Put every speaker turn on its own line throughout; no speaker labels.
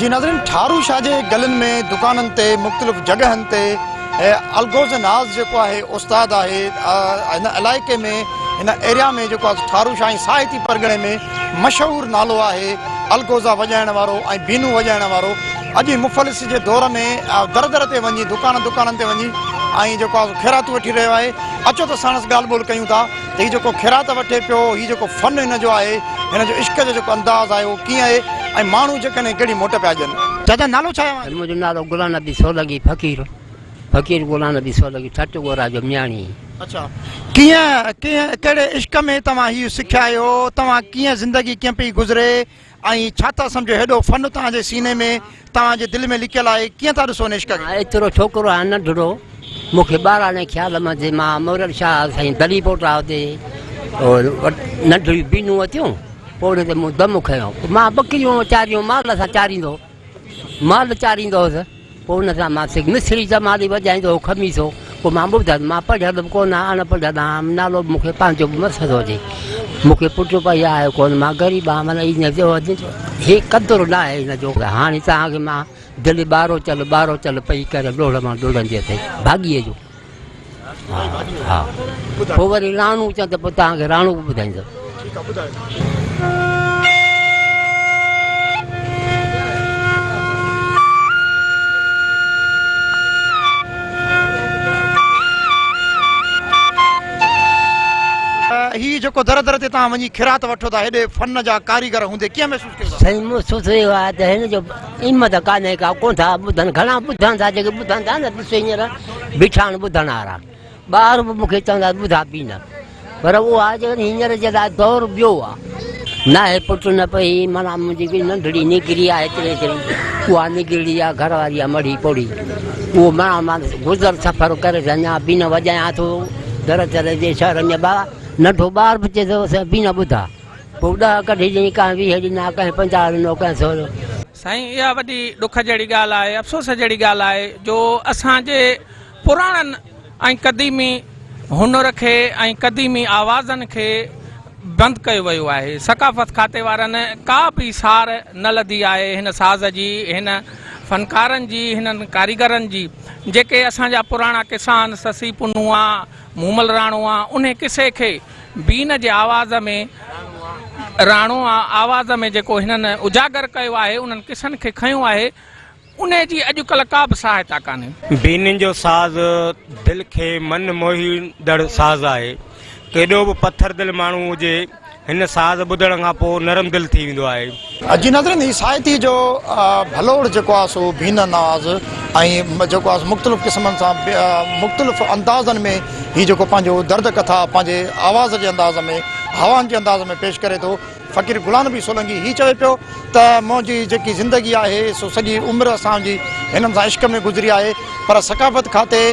جي ناظرين ٺارو شاهه جي گلين ۾ دڪانن تي مختلف جڳهن تي الغوز ناز جيڪو آهي استاد آهي هن علائقي ۾ هن ايريا ۾ جيڪو آهي ٺارو شاهه ۽ ساهتي پرڳڻي ۾ مشهور نالو آهي الگوزا وڄائڻ وارو ۽ بينو وڄائڻ وارو اڄ مفلسي جي دور ۾ در در تي وڃي دڪان دڪانن تي وڃي ۽ جيڪو آهي خيراتون وٺي رهيو آهي اچو ته ساڻس ڳالهه ٻولهه ڪيون ٿا ته هي جيڪو خيرات وٺي پيو هي جيڪو فن هن جو آهي هن جو عشق جو جيڪو انداز آهي اهو ڪيئن آهي ۽ ماڻهو جيڪڏهن ڪهڙي موٽ پيا ڏين چاچا نالو ڇا آهي اوهان جو؟ منهنجو نالو غلام نبي
سولنگي فقير. فقير غلام نبي سولنگي ٺٽ ڳورا جو مياڻي. اڇا
ڪيئن ڪنهن ڪهڙي عشق ۾ توهان هي سکيا آهيو توهان ڪيئن زندگي ڪيئن پئي گذري ۽ ڇا ٿا سمجهو هيڏو فن توهان جي سيني ۾ توهان جي دل ۾ لڪيل آهي ڪيئن ٿا ڏسو ان عشق کي. ايترو ڇوڪرو آهيان
ننڍڙو مون کي ٻاراڻي خيال مان جي مان مورل شاهه سائين دلي پوٽا هتي ننڍڙيون بينون وتيون پوڙهي تي مون دم کنيو مان ٻڪريون چاريون مال سان چاريندو مال چاريندو هوس، پوء ان سان مان سک مصري جمالي وڄائيندو هو خميسو، پوء مان ٻڌس، مان پڙهيل به ڪونه آهيان، اڻ پڙهيل آهيان، نالو به مون کي پنهنجو به مسهد هجي، مون کي پٽ به اهي آهيو ڪونه، مان غريب آهيان، معنيٰ ان جو هي قدر نه آهي ان جو. هاڻي توهان کي مان دل ٻاروچل ٻاروچل پئي ڪريان، ڏوڙ مان ڏوڙندي اٿئي ڀاڳيء جو. ها پوء وري راڻو چان ته پوء تان کي راڻو به ٻڌائيندس ٺيڪ آ ٻڌايو
هي جيڪو در در تي توهان وڃي خيرات وٺو ٿا هيڏي فن جا ڪاريگر هوندي ڪيئن محسوس سائين مون سوچ رهي هو
ته هن جو قيمت ڪانه ڪا ڪون ٿا ٻڌن گھڻا ٻڌن ٿا جيڪي ٻڌن ٿا نه ڏسو هينئر بيٺا آهن ٻڌڻ وارا ٻار به مونکي چوندا ٻڌا بي نه پر اهو آ جو هينئر جي لاء دور ٻيو آ نه هي پٽ نه پئي مانا منهنجي ڪي ننڍڙي نڪري آ هيتري هيتري اها نڪري آ گھر واري آ مڙي پوڙي اهو مانا مان گذر سفر ڪري اڃا بي نه وڄايان ٿو در در جي شهر ۾ ٻار ننڍو ٻار به چي ٿو سائين بي نه ٻڌا پوء ڏهه ڪڍي ڏني، ڪنهن ويهه ڏنا، ڪنهن پنجاهه ڏنو، ڪنهن سورهه. سائين اها
وڏي ڏک جهڙي ڳالهه آهي افسوس جهڙي ڳالهه آهي جو اسان جي پراڻن ۽ قديمي هنر کي ۽ قديمي آوازن کي بند ڪيو ويو آهي ثقافت کاتي وارن ڪا به سار نه لڌي آهي هن ساز جي هن فنڪارن جي هنن ڪاريگرن جي جيڪي اسان جا پراڻا قصا آهن سسي پنهونئا مومل راڻو آ انهي قصي کي بين جي آواز ۾ راڻو آواز ۾ جيڪو هنن اجاگر ڪيو آهي انهن قصن کي کنيو آهي انهي جي اڄڪلهه ڪا به سهائتا ڪانهي. بين جو ساز
دل کي من موهيندڙ ساز آهي. ڪيڏو به پٿر دل ماڻهو هجي هن ساز ٻڌڻ کان پوء نرم دل ٿي ويندو آهي. جي ناظرين هي سائتي
جو ڀلوڙ جيڪو آهي سو بين انداز ۽ جيڪو آهي سو مختلف قسمن سان مختلف اندازن ۾ هي جيڪو پنهنجو درد ڪٿا پنهنجي آواز جي انداز ۾ هوائن جي انداز ۾ پيش ڪري ٿو فقير گلان نبي سولنگي هي چوي پيو ته منهنجي جيڪي زندگي آهي سو سڄي عمر اسان جي هنن سان عشق ۾ گذري آهي پر ثقافت کاتي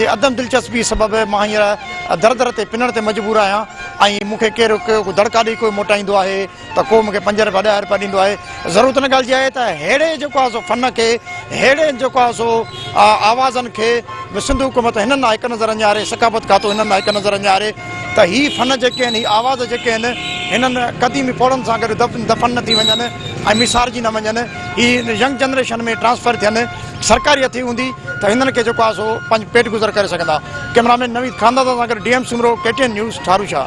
جي عدم دلچسپي سبب مان هينئر در در تي پنڻ تي مجبور آهيان ۽ مون کي ڪير دڙڪا ڏئي ڪوئي موٽائيندو آهي ته ڪو مون کي پنج رپيا ڏهه رپيا ڏيندو آهي ضرورت ان ڳالهه جي آهي ته ههڙي جيڪو آهي سو فن کي ههڙي جيڪو آهي سو آوازن کي به سنڌ حڪومت هنن ڏانهن هڪ نظر اڃاري ثقافت کاتو هنن ڏانهن هڪ نظر اڃاري ته هي فن جيڪي آهن هي آواز جيڪي آهن هنن قديمي پوڙهن سان گڏ دف دفن نه ٿي وڃن ۽ مسارجي نه وڃن هي ينگ جنريشن ۾ ٽرانسفر ٿين سرڪاري هٿي هوندي ته هنن کي جيڪو آهي سو پنهنجو پيٽ گذر ڪري سگهندا ڪئمرامين نويد خاندازا سان گڏ D M Soomro K T N news Tharushah